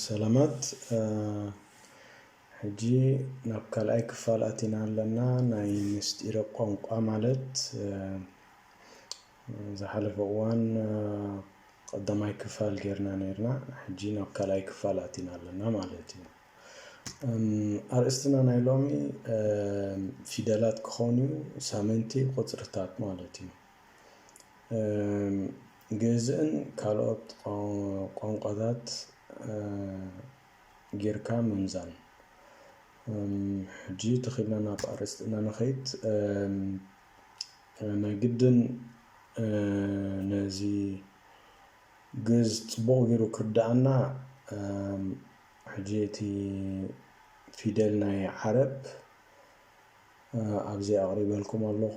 ሰላማት ሕጂ ናብ ካልኣይ ክፋል ኣቲና ኣለና ናይ ምስጢረ ቋንቋ ማለት ዝሓለፈ እዋን ቀዳማይ ክፋል ጌርና ነርና ሕጂ ናብ ካልኣይ ክፋል ኣቲና ኣለና ማለት እዩ ኣርእስትና ናይ ሎሚ ፊደላት ክኾን እዩ ሳምንቲ ቁፅርታት ማለት እዩ ግእዝን ካልኦት ቋንቋታት ጌርካ ምምዛን። ሕጂ ተኺልና ናብ ኣርእስትና ንኸይድ። ናይ ግድን ነዚ ግእዝ ጽቡቕ ጌሩ ክርድኣና ሕጂ እቲ ፊደል ናይ ዓረብ ኣብዚ ኣቕሪበልኩም ኣለኹ።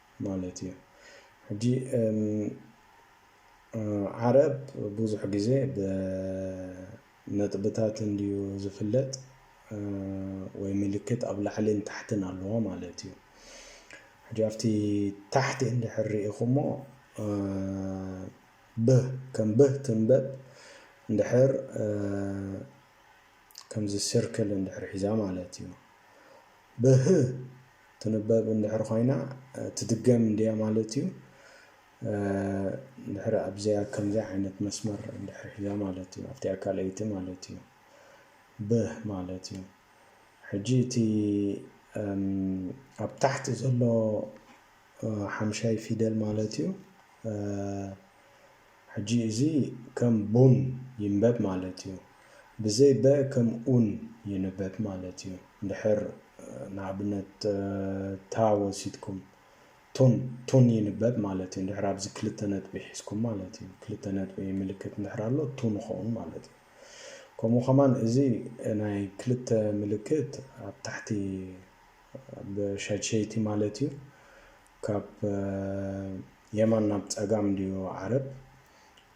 ማለት እዩ ሕጂ ዓረብ ብዙሕ ግዜ ብነጥብታት እንድዩ ዝፍለጥ ወይ ምልክት ኣብ ላዕልን ታሕትን ኣለዎ ማለት እዩ ሕጂ ኣብቲ ታሕቲ እንድሕር ርኢኹሞ ብህ ከም ብህ ትንበብ እንድሕር ከምዚ ስርክል እንድሕር ሒዛ ማለት እዩ ብህ ትንበብ እንድሕር ኾይና ትድገም እንድያ ማለት እዩ። እንድሕር ኣብዚኣ ከምዚኣ ዓይነት መስመር እንድሕር ሒዛ ማለት እዩ። ኣብቲኣ ካልኣይቲ ማለት እዩ። ብ ማለት እዩ። ሕጂ እቲ ኣብ ታሕቲ ዘሎ ሓምሻይ ፊደል ማለት እዩ። ሕጂ እዚ ከም ቡን ይንበብ ማለት እዩ ብዘይ በ ከም ኡን ይንበብ ማለት እዩ እንድሕር ንኣብነት ታ ወሲድኩም ቱን ቱን ይንበብ ማለት እዩ እንድሕር ኣብዚ ክልተ ነጥቢ ሒዝኩም ማለት እዩ ክልተ ነጥቢ ምልክት እንድሕር ኣሎ ቱን ይኸውን ማለት እዩ ከምኡ ከማን እዚ ናይ ክልተ ምልክት ኣብ ታሕቲ ብሸድሸይቲ ማለት እዩ ካብ የማን ናብ ጸጋም እንድዩ ዓረብ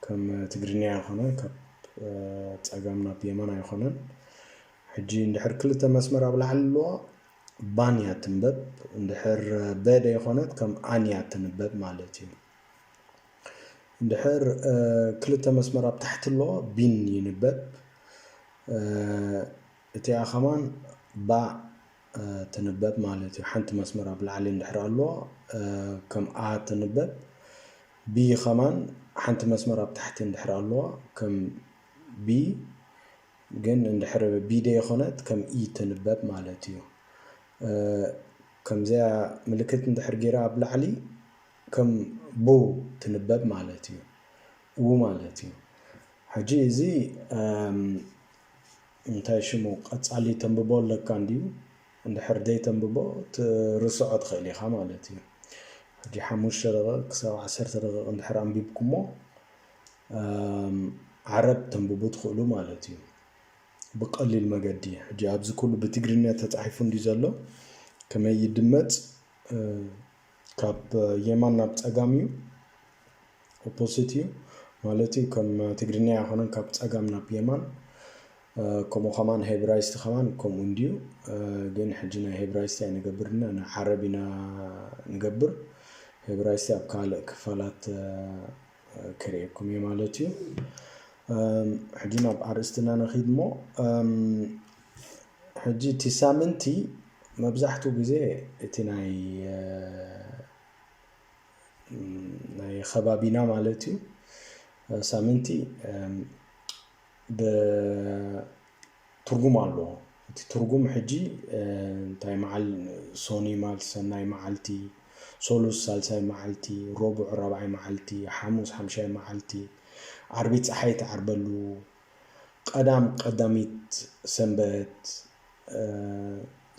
ከም ትግርንያ ኣይኮነን ካብ ጸጋም ናብ የማን ኣይኮነን ሕጂ እንድሕር ክልተ መስመር ኣብ ላዕሊ ኣለዋ ባን እያ ትንበብ እንድሕር በ ደይኮነት ከም ኣን እያ ትንበብ ማለት እዩ እንድሕር ክልተ መስመር ኣብ ታሕቲ ኣለዋ ቢን ይንበብ እቲኣ ከማን ባ ትንበብ ማለት እዩ። ሓንቲ መስመር ኣብ ላዕሊ እንድሕር ኣሎ ከም a ትንበብ b ከማን ሓንቲ መስመር ኣብ ታሕቲ እንድሕር ኣለዋ ከም b ግን እንድሕር b ደይኮነት ከም e ትንበብ ማለት እዩ። ከምዚኣ ምልክት እንድሕር ገይራ ኣብ ላዕሊ ከም ቡ ትንበብ ማለት እዩ። ው ማለት እዩ። ሕጂ እዚ እንታይ ሽሙ ቀጻሊ ተንብቦ ኣለካ እንድዩ እንድሕር ደይተንብቦ ትርስዖ ትክእል ኢካ ማለት እዩ ሕጂ ሓሙሽተ ደቂቅ ክሳብ ዓሰርተ ደቂቅ እንድሕር ኣንቢብኩሞ ዓረብ ተንብቡ ትክእሉ ማለት እዩ ብቀሊል መገዲ ሕጂ ኣብዚ ኩሉ ብትግርኛ ተጻሒፉ እንድዩ ዘሎ ከመይ ይድመጽ ካብ የማን ናብ ጸጋም እዩ ኦፖሲት እዩ ማለት እዩ ከም ትግርኛ ኣይኮነን ካብ ጸጋም ናብ የማን ከምኡ ከማን ሄብራይስቲ ከማን ከምኡ እንድዩ ግን ሕጂ ናይ ሄብራይስቲ ኣይንገብርና ናይ ዓረብ ኢና ንገብር ሄብራይስቲ ኣብ ካልእ ክፋላት ክርእየኩም እየ ማለት እዩ ሕጂ ናብ ኣርእስትና ንኺድ እሞ ሕጂ እቲ ሳምንቲ መብዛሕቱ ግዜ እቲ ናይ ከባቢና ማለት እዩ ሳምንቲ ብትርጉም ኣሎ እቲ ትርጉም ሕጂ እንታይ መዓል ሶኒ ማል ሰናይ መዓልቲ ሶሉስ ሳልሳይ መዓልቲ ሮቡዕ ራብዓይ መዓልቲ ሓሙስ ሓምሻይ መዓልቲ ዓርቢ ፀሓይ ትዓርበሉ ቀዳም ቀዳሚት ሰንበት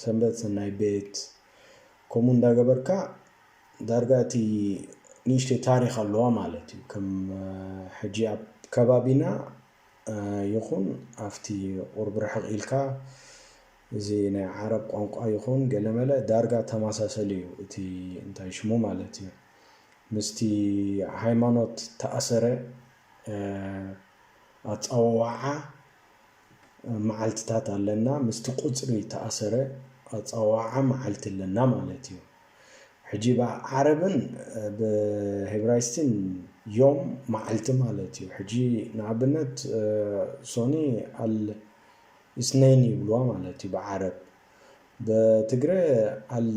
ሰንበት ሰናይ ቤት ከምኡ እንዳገበርካ ዳርጋ እቲ ንእሽተይ ታሪክ ኣለዋ ማለት እዩ ከም ሕጂ ኣብ ከባቢና ይኹን ኣብቲ ቁርብ ርሕቅ ኢልካ እዚ ናይ ዓረብ ቋንቋ ይኹን ገለመለ ዳርጋ ተመሳሰሊ እዩ እቲ እንታይ ሽሙ ማለት እዩ ምስቲ ሃይማኖት ተኣሰረ ኣጻዋውዓ መዓልትታት ኣለና ምስቲ ቁጽሪ ተኣሰረ ኣጻዋውዓ መዓልቲ ኣለና ማለት እዩ ሕጂ ብ ዓረብን ብ ሄብራይስቲን ዮም መዓልቲ ማለት እዩ ሕጂ ንኣብነት ሶኒ ኣል ኢስነይን ይብልዋ ማለት እዩ ብ ዓረብ ብ ትግረ ኣል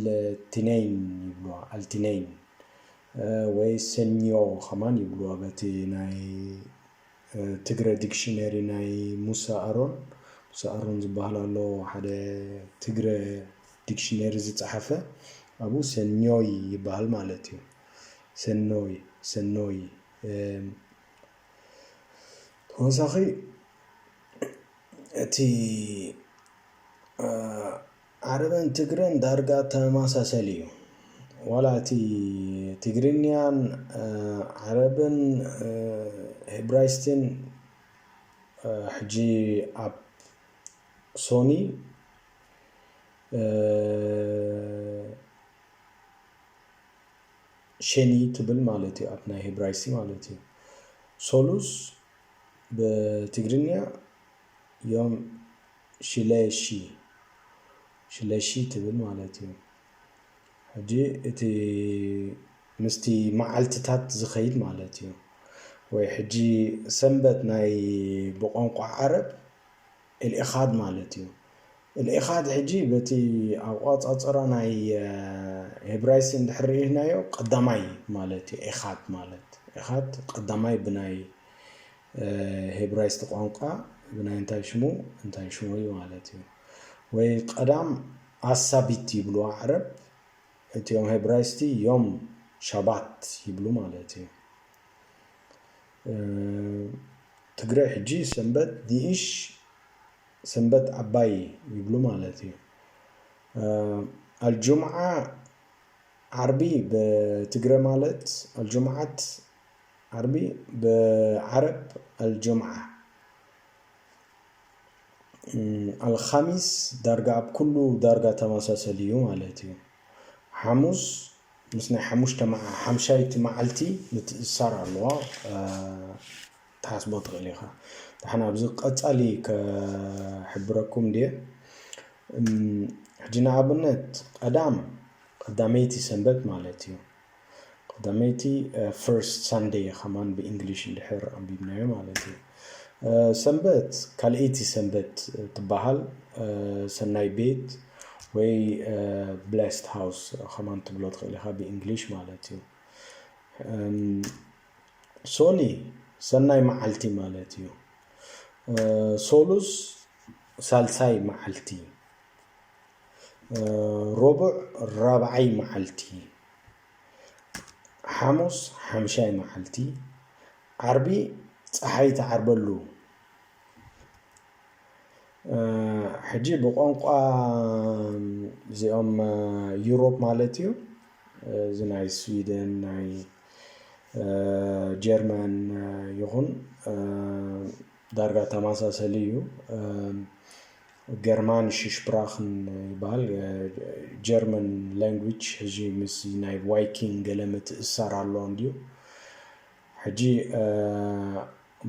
ቲነይን ይብልዋ ኣልቲነይን ወይ ሰኞ ከማን ይብልዋ በቲ ናይ ትግረ ዲክሽነሪ ናይ ሙሳ ኣሮን ሙሳ ኣሮን ዝበሃል ኣሎ ሓደ ትግረ ዲክሽነሪ ዝጸሓፈ ኣብኡ ሰኞይ ይበሃል ማለት እዩ ሰኖይ ሰኖይ ተወሳኺ እቲ ዓረብን ትግረን ዳርጋ ተመሳሰሊ እዩ ዋላ እቲ ትግርኛን ዓረብን ህብራይስትን ሕጂ ኣብ ሶኒ ሸኒ ትብል ማለት እዩ ኣብ ናይ ህብራይሲ ማለት እዩ ሶሉስ ብትግርኛ ዮም ሽለሺ ሽለሺ ትብል ማለት እዩ። ሕጂ እቲ ምስቲ መዓልትታት ዝኸይድ ማለት እዩ። ወይ ሕጂ ሰንበት ናይ ብቋንቋ ዓረብ ኤልኢኻድ ማለት እዩ። ኤልኢኻድ ሕጂ በቲ ኣቆጻጽራ ናይ ሄብራይሲ እንድሕር ርኢናዮ ቀዳማይ ማለት እዩ። ኤኻድ ማለት ኤኻድ ቀዳማይ ብናይ ሄብራይስጥ ቋንቋ ብናይ እንታይ ሽሙ እንታይ ሽሙ እዩ ማለት እዩ ወይ ቀዳም ኣሳቢት ይብልዋ ዓረብ እቲኦም ሄብራይስቲ ዮም ሻባት ይብሉ ማለት እዩ ትግረ ሕጂ ሰንበት ዲኢሽ ሰንበት ኣባይ ይብሉ ማለት እዩ ኣልጁምዓ ዓርቢ ብትግረ ማለት ኣልጁምዓት ዓርቢ ብዓረብ ኣልጁምዓ፣ ኣልኻሚስ ዳርጋ ኣብ ኩሉ ዳርጋ ተመሳሰሊ እዩ ማለት እዩ። ሓሙስ ምስ ናይ ሓሙሽተ ሓምሻይቲ መዓልቲ ምትእስሳር ኣለዋ ትሓስቦ ትኽእል ኢኻ። ንሕና ኣብዚ ቀጻሊ ከሕብረኩም ድየ ሕጂ ንኣብነት ቀዳም ቀዳመይቲ ሰንበት ማለት እዩ ቀዳመይቲ ፈርስት ሳንደይ ከማን ብእንግሊሽ እንድሕር ኣንቢብናዮ ማለት እዩ ሰንበት ካልኣይቲ ሰንበት ትበሃል ሰናይ ቤት ወይ ብላስት ሃውስ ከማን ትብሎ ትኽእል ኢኻ ብእንግሊሽ ማለት እዩ ሶኒ ሰናይ መዓልቲ ማለት እዩ ሶሉስ ሳልሳይ መዓልቲ ሮቡዕ ራብዓይ መዓልቲ፣ ሓሙስ ሓምሻይ መዓልቲ፣ ዓርቢ ፀሓይ ትዓርበሉ። ሕጂ ብቋንቋ እዚኦም ዩሮፕ ማለት እዩ እዚ ናይ ስዊደን ናይ ጀርመን ይኹን ዳርጋ ተማሳሰሊ እዩ ገርማንሽ ሽፕራክን ይበሃል ጀርመን ላንጉጅ ሕጂ ምስ ናይ ዋይኪንግ ገለ ምትእሳር ኣለዎ እንድዩ ሕጂ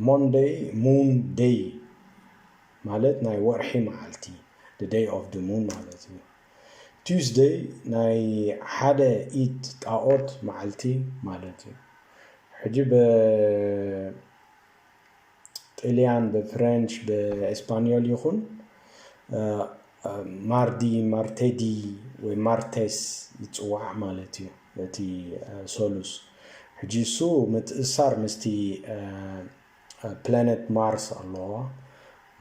ሞንደይ ሙን ደይ ማለት ናይ ወርሒ መዓልቲ ደይ ኦፍ ደ ሙን ማለት እዩ ቱስደይ ናይ ሓደ ኢድ ጣኦት መዓልቲ ማለት እዩ ሕጂ ጥልያን ብፍረንች ብእስፓንዮል ይኹን ማርዲ ማርቴዲ ወይ ማርቴስ ይፅዋዕ ማለት እዩ እቲ ሶሉስ ሕጂ እሱ ምትእሳር ምስቲ ፕላነት ማርስ ኣለዋ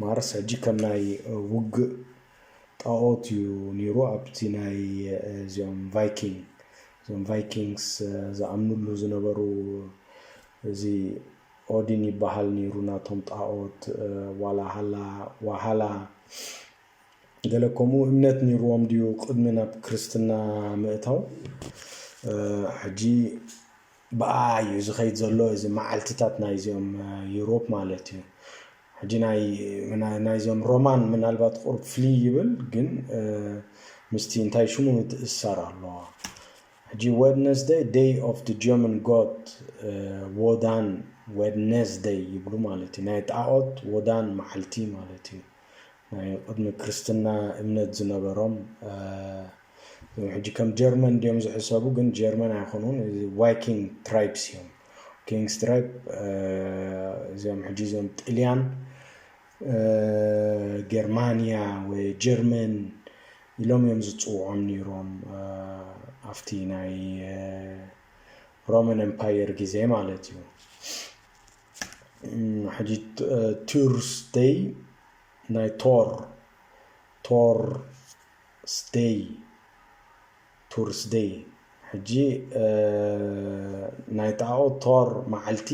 ማርስ ሕጂ ከም ናይ ውግእ ጣኦት እዩ ነይሩ ኣብቲ ናይ እዚኦም ቫይኪንግ እዞም ቫይኪንግስ ዝኣምንሉ ዝነበሩ እዚ ኦዲን ይባሃል ነይሩ ናቶም ጣኦት ዋላ ሃላ ዋሃላ ገለ ከምኡ እምነት ነይርዎም ድዩ ቅድሚ ናብ ክርስትና ምእታው ሕጂ ብኣ እዩ ዝኸይድ ዘሎ እዚ መዓልትታት ናይዚኦም ዩሮፕ ማለት እዩ ሕጂ ናይ ናይዞም ሮማን ምናልባት ቁርብ ፍልይ ይብል ግን ምስቲ እንታይ ሽሙ ትእሰር ኣለዋ ሕጂ ወድነስደይ ደይ ኦፍ ድ ጀምን ጎት ዎዳን ዌድነስደይ ይብሉ ማለት እዩ ናይ ጣኦት ዎዳን መዓልቲ ማለት እዩ ናይ ቅድሚ ክርስትና እምነት ዝነበሮም እዞም ሕጂ ከም ጀርመን ድዮም ዝሕሰቡ ግን ጀርመን ኣይኮኑን ዋይኪንግ ትራይብስ እዮም ኪንግስ ትራይብ እዚኦም ሕጂ እዞም ጥልያን ጌርማንያ ወይ ጀርመን ኢሎም እዮም ዝፅውዖም ነይሮም ኣብቲ ናይ ሮማን ኤምፓየር ግዜ ማለት እዩ ሕጂ ቱርስደይ ናይ ቶር ቶር ስደይ Thursday ሕጂ ናይ ጣኦት Thor መዓልቲ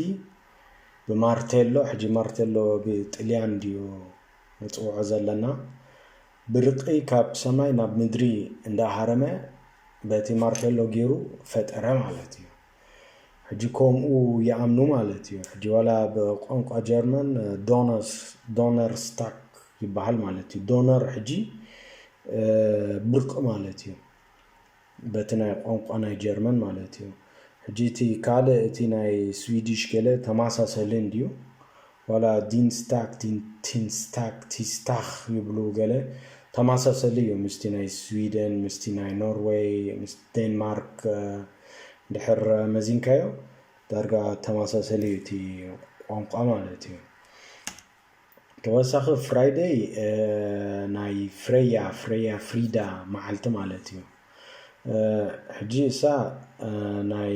ብማርቴሎ ሕጂ ማርቴሎ ብጥልያን ድዩ ንጽውዖ ዘለና ብርቂ ካብ ሰማይ ናብ ምድሪ እንዳሃረመ በቲ ማርቴሎ ጌሩ ፈጠረ ማለት እዩ። ሕጂ ኮምኡ ይኣምኑ ማለት እዩ ሕጂ ዋላ ብቋንቋ ጀርመን ዶነር ስታክ ይበሃል ማለት እዩ ዶነር ሕጂ ብርቂ ማለት እዩ በቲ ናይ ቋንቋ ናይ ጀርመን ማለት እዩ ሕጂ እቲ ካልእ እቲ ናይ ስዊዲሽ ገለ ተመሳሰሊ እንድዩ ዋላ ዲንስታክ፣ ዲንቲንስታክ፣ ቲስታኽ ይብሉ ገለ ተማሳሰሊ እዩ ምስቲ ናይ ስዊደን ምስቲ ናይ ኖርወይ ምስ ዴንማርክ እንድሕር መዚንካዮ ዳርጋ ተማሳሰሊ እዩ እቲ ቋንቋ ማለት እዩ ተወሳኺ ፍራይደይ ናይ ፍሬያ ፍሬያ ፍሪዳ መዓልቲ ማለት እዩ ሕጂ እሳ ናይ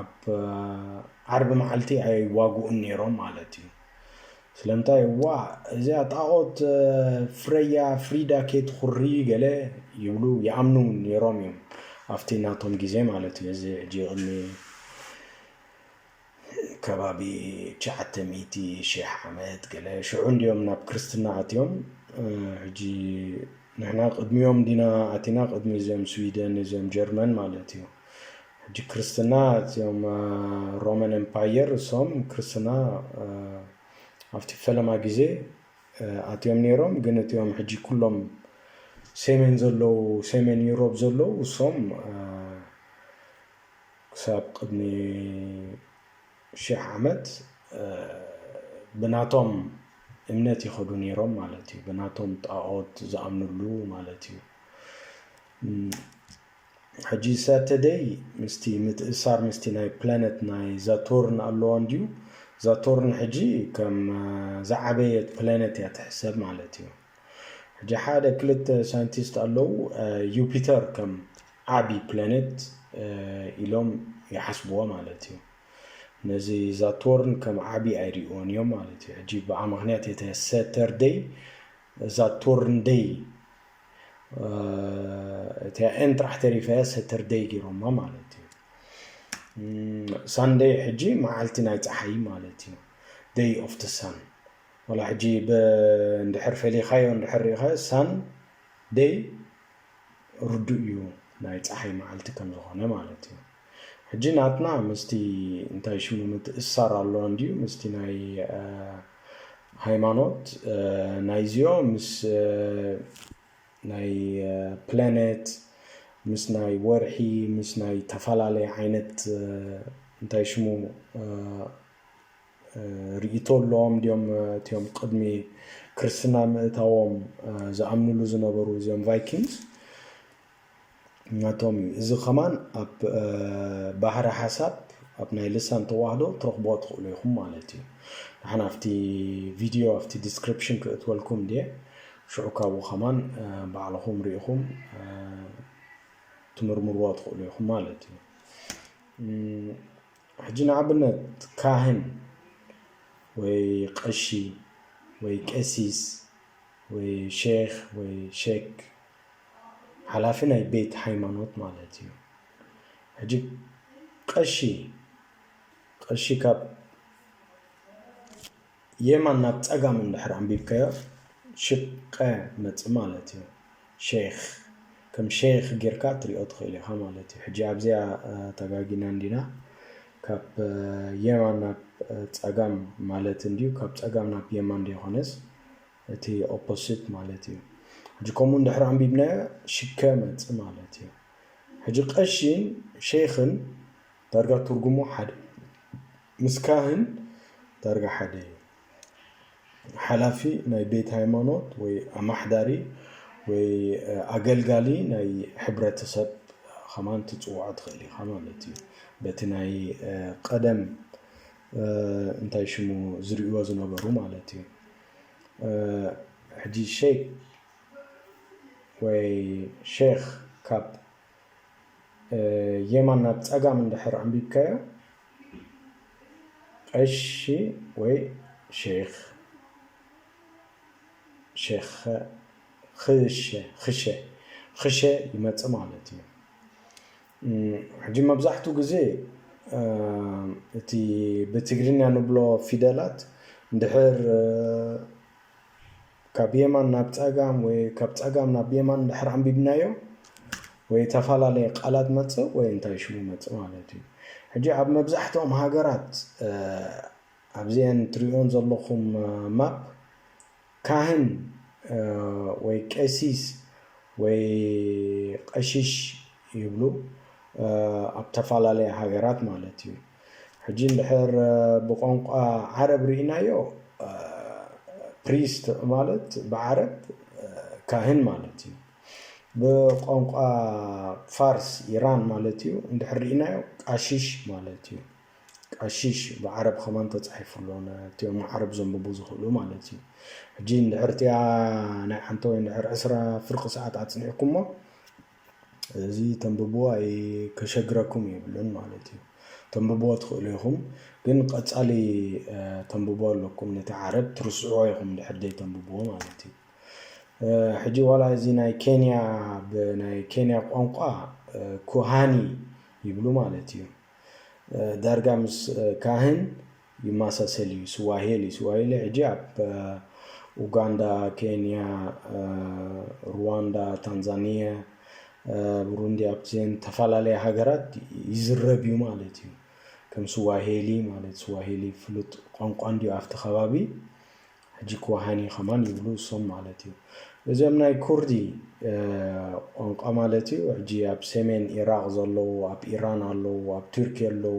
ኣብ ዓርቢ መዓልቲ ኣይዋግኡን ነይሮም ማለት እዩ ስለምንታይ ዋ እዚኣ ጣዖት ፍረያ ፍሪዳ ኬትኹሪ ገለ ይብሉ ይኣምኑ ነይሮም እዮም ኣብቲ ናቶም ግዜ ማለት እዩ እዚ ሕጂ ቅድሚ ከባቢ ትሽዓተ ሚእቲ ሽሕ ዓመት ገለ ሽዑ እንዲኦም ናብ ክርስትና ኣትዮም ሕጂ ንሕና ቅድሚኦም ዲና ኣቲና ቅድሚ እዚኦም ስዊደን እዚኦም ጀርመን ማለት እዩ ሕጂ ክርስትና እትም ሮመን ኤምፓየር እሶም ክርስትና ኣብቲ ፈለማ ግዜ ኣትዮም ነይሮም ግን እትም ሕጂ ኩሎም ሴሜን ዘለዉ ሴሜን ዩሮብ ዘለዉ እሶም ክሳብ ቅድሚ ሽሕ ዓመት ብናቶም እምነት ይኸዱ ነይሮም ማለት እዩ ብናቶም ጣኦት ዝኣምንሉ ማለት እዩ ሕጂ ሳተደይ ምስቲ ምትእሳር ምስቲ ናይ ፕላነት ናይ ዛቶርን ኣሎዋ እንድዩ ዛቶርን ሕጂ ከም ዝዓበየት ፕላነት እያ ትሕሰብ ማለት እዩ ሕጂ ሓደ ክልተ ሳይንቲስት ኣለው ዩፒተር ከም ዓቢ ፕላነት ኢሎም ይሓስብዋ ማለት እዩ ነዚ ዛቶርን ከም ዓቢ ኣይርእዎን እዮም ማለት እዩ ሕጂ ብኣ ምክንያት የተ ሰተርደይ ዛቶርን ደይ እቲኣ ኤን ጥራሕ ተሪፋ እያ ሰተርደይ ገይሮማ ማለት እዩ ሳንደይ ሕጂ መዓልቲ ናይ ፀሓይ ማለት እዩ ደይ ኦፍ ቲ ሳን ወላ ሕጂ እንድሕር ፈሊኻዮ እንድሕር ሪኢኻዮ ሳን ደይ ርዱእ እዩ ናይ ፀሓይ መዓልቲ ከም ዝኾነ ማለት እዩ ሕጂ ናትና ምስቲ እንታይ ሽሙ ምትእስሳር ኣለዎ እንድዩ ምስቲ ናይ ሃይማኖት ናይዚኦ ምስ ናይ ፕለኔት ምስ ናይ ወርሒ ምስ ናይ ተፈላለየ ዓይነት እንታይ ሽሙ ርእይቶ ኣለዎም ድዮም እትዮም ቅድሚ ክርስትና ምእታዎም ዝኣምንሉ ዝነበሩ እዚኦም ቫይኪንግስ ናቶም እዩ እዚ ከማን ኣብ ባህረ ሓሳብ ኣብ ናይ ልሳን ተዋህዶ ትረኽብዎ ትኽእሉ ኢኹም ማለት እዩ ንሓን ኣብቲ ቪድዮ ኣብቲ ዲስክሪፕሽን ክእትወልኩም ድየ ሽዑ ካብኡ ከማን ባዕልኹም ርኢኹም ትምርምርዎ ትኽእሉ ኢኹም ማለት እዩ ሕጂ ንኣብነት ካህን ወይ ቀሺ ወይ ቀሲስ ወይ ሼክ ወይ ሼክ ሓላፊ ናይ ቤት ሃይማኖት ማለት እዩ ሕጂ ቀሺ ቀሺ ካብ የማን ናብ ጸጋም እንድሕር ኣንቢብካዮ ሽቀ መጽ ማለት እዩ ሼክ ከም ሼክ ጌርካ ትሪኦ ትኽእል ኢኻ ማለት እዩ ሕጂ ኣብዚኣ ተጋጊና እንዲና ካብ የማን ናብ ጸጋም ማለት እንድዩ ካብ ጸጋም ናብ የማን ደይኮነስ እቲ ኦፖሲት ማለት እዩ ሕጂ ከምኡ እንድሕር ኣንቢብናዮ ሽከ መጽ ማለት እዩ ሕጂ ቀሺን ሸይኽን ዳርጋ ትርጉሙ ሓደ ምስ ካህን ዳርጋ ሓደ እዩ ሓላፊ ናይ ቤት ሃይማኖት ወይ ኣማሕዳሪ ወይ ኣገልጋሊ ናይ ሕብረተሰብ ከማን ትጽውዖ ትኽእል ኢኻ ማለት እዩ በቲ ናይ ቀደም እንታይ ሽሙ ዝርእዎ ዝነበሩ ማለት እዩ ሕጂ ሸይክ ወይ ሼኽ ካብ የማን ናብ ጸጋም እንድሕር ኣንቢብካዮ ቀሺ ወይ ሼኽ ሸኸ ኽሸ ኽሸ ኽሸ ይመጽእ ማለት እዩ። ሕጂ መብዛሕትኡ ግዜ እቲ ብትግርኛ ንብሎ ፊደላት እንድሕር ካብ የማን ናብ ጸጋም ወይ ካብ ጸጋም ናብ የማን እንድሕር ኣንቢብናዮ ወይ እተፈላለየ ቃላት መጽእ ወይ እንታይ ሽሙ መጽእ ማለት እዩ። ሕጂ ኣብ መብዛሕትኦም ሃገራት ኣብዘን ትሪእወን ዘለኹም ማፕ ካህን ወይ ቀሲስ ወይ ቐሺሽ ይብሉ ኣብ ተፋላለያ ሃገራት ማለት እዩ ሕጂ እንድሕር ብቆንቋ ዓረብ ሪኢናዮ ፕሪስት ማለት ብዓረብ ካህን ማለት እዩ ብቆንቋ ፋርስ ኢራን ማለት እዩ እንድሕር ሪኢናዮ ቃሺሽ ማለት እዩ። ቀሺሽ ብዓረብ ከማን ተጻሒፉ ኣሎ ነቲኦም ዓረብ ዘንብቡ ዝኽእሉ ማለት እዩ ሕጂ እንድሕር እቲኣ ናይ ሓንቲ ወይ እንድሕር ዕስራ ፍርቂ ሰዓት ኣጽኒዕኩሞ እዚ ተንብብዎ ኣይ ከሸግረኩም የብሉን ማለት እዩ ተንብብዎ ትኽእሉ ኢኹም ግን ቀጻሊ ተንብብዎ ኣለኩም ነቲ ዓረብ ትርስዕዎ ኢኹም እንድሕር ዘይተንብብዎ ማለት እዩ ሕጂ ዋላ እዚ ናይ ኬንያ ብናይ ኬንያ ቋንቋ ኩሃኒ ይብሉ ማለት እዩ ዳርጋ ምስ ካህን ይማሳሰል እዩ ስዋሄሊ ስዋሄሊ ሕጂ ኣብ ኡጋንዳ ኬንያ ሩዋንዳ ታንዛንያ ብሩንዲ ኣብዘን ተፈላለያ ሃገራት ይዝረብ እዩ ማለት እዩ ከም ስዋሄሊ ማለት ስዋሄሊ ፍሉጥ ቋንቋ እንዲዩ ኣብቲ ከባቢ ሕጂ ክወሃኒ ከማን ይብሉ እሶም ማለት እዩ እዚኦም ናይ ኩርዲ ቋንቋ ማለት እዩ ሕጂ ኣብ ሰሜን ኢራቅ ዘለዉ ኣብ ኢራን ኣለዉ ኣብ ቱርኪ ኣለዉ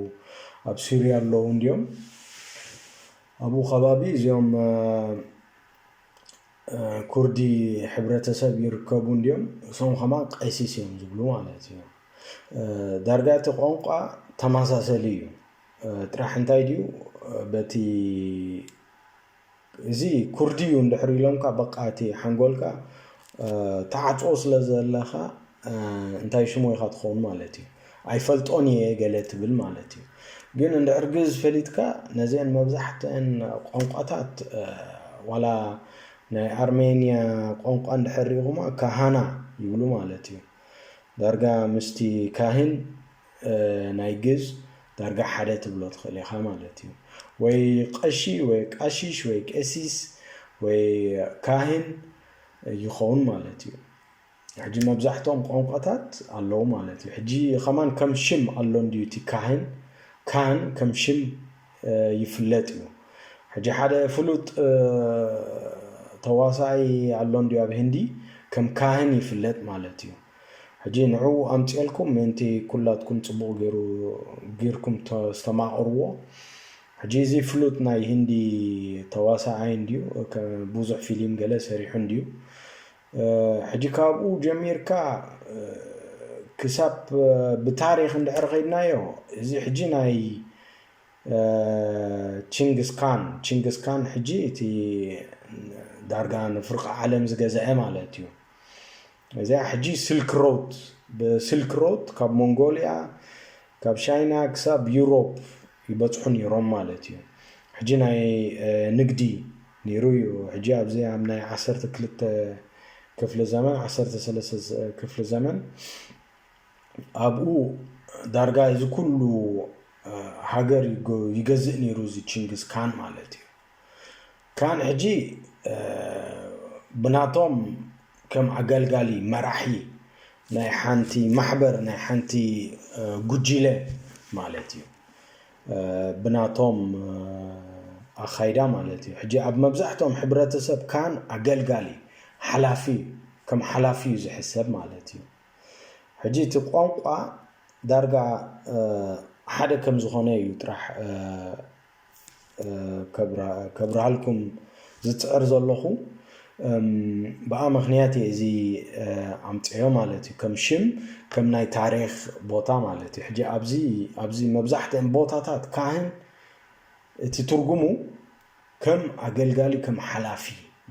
ኣብ ሱርያ ኣለዉ እንዲኦም ኣብኡ ከባቢ እዚኦም ኩርዲ ሕብረተሰብ ይርከቡ እንዲኦም እሶም ከማ ቀሲስ እዮም ዝብሉ ማለት እዩ ዳርጋ እቲ ቋንቋ ተመሳሰሊ እዩ ጥራሕ እንታይ ድዩ በቲ እዚ ኩርዲ እዩ እንድሕር ኢሎምካ በቃ እቲ ሓንጎልካ ተዓጽዎ ስለ ዘለካ እንታይ ሽሙ ኢካ ትኸውን ማለት እዩ ኣይፈልጦን እየ ገለ ትብል ማለት እዩ ግን እንድሕር ግእዝ ፈሊጥካ ነዚአን መብዛሕትአን ቋንቋታት ዋላ ናይ ኣርሜንያ ቋንቋ እንድሕር ሪኢኹማ ካሃና ይብሉ ማለት እዩ ዳርጋ ምስቲ ካህን ናይ ግእዝ ዳርጋ ሓደ ትብሎ ትኽእል ኢኻ ማለት እዩ። ወይ ቐሺ ወይ ቃሺሽ ወይ ቄሲስ ወይ ካህን ይኸውን ማለት እዩ። ሕጂ መብዛሕትኦም ቋንቋታት ኣለዉ ማለት እዩ። ሕጂ ከማን ከም ሽም ኣሎ እንድዩ እቲ ካህን ካህን ከም ሽም ይፍለጥ እዩ። ሕጂ ሓደ ፍሉጥ ተዋሳኣይ ኣሎ እንድዩ ኣብ ህንዲ ከም ካህን ይፍለጥ ማለት እዩ። ሕጂ ንዕኡ ኣምጺኤልኩም ምእንቲ ኩላትኩም ጽቡቕ ጌሩ ጊርኩም ተስተማቕርዎ። ሕጂ እዚ ፍሉጥ ናይ ሂንዲ ተዋሳኣይ እንድዩ ብዙሕ ፊሊም ገለ ሰሪሑ እንድዩ። ሕጂ ካብኡ ጀሚርካ ክሳብ ብታሪኽ እንድሕር ኸይድናዮ እዚ ሕጂ ናይ ቺንግስ ካን ቺንግስ ካን ሕጂ እቲ ዳርጋ ንፍርቂ ዓለም ዝገዝዐ ማለት እዩ። እዚኣ ሕጂ ስልክ ሮት ብስልክ ሮት ካብ ሞንጎልያ ካብ ሻይና ክሳብ ዩሮፕ ይበፅሑ ነይሮም ማለት እዩ ሕጂ ናይ ንግዲ ነይሩ እዩ ሕጂ ኣብዚ ኣብ ናይ ዓሰርተ ክልተ ክፍሊ ዘመን ዓሰርተ ሰለስተ ክፍሊ ዘመን ኣብኡ ዳርጋ እዚ ኩሉ ሃገር ይገዝእ ነይሩ እዚ ቺንግስ ካን ማለት እዩ ክራን ሕጂ ብናቶም ከም ኣገልጋሊ መራሒ ናይ ሓንቲ ማሕበር ናይ ሓንቲ ጉጂለ ማለት እዩ ብናቶም ኣካይዳ ማለት እዩ ሕጂ ኣብ መብዛሕትኦም ሕብረተሰብ ካን ኣገልጋሊ ሓላፊ ከም ሓላፊ እዩ ዝሕሰብ ማለት እዩ ሕጂ እቲ ቋንቋ ዳርጋ ሓደ ከም ዝኾነ እዩ ጥራሕ ከብርሃልኩም ዝፅዕር ዘለኹ ብኣ ምክንያት እየ እዚ ኣምፅኦ ማለት እዩ ከም ሽም ከም ናይ ታሪክ ቦታ ማለት እዩ ሕጂ ኣብዚ ኣብዚ መብዛሕትኦም ቦታታት ካህን እቲ ትርጉሙ ከም ኣገልጋሊ ከም ሓላፊ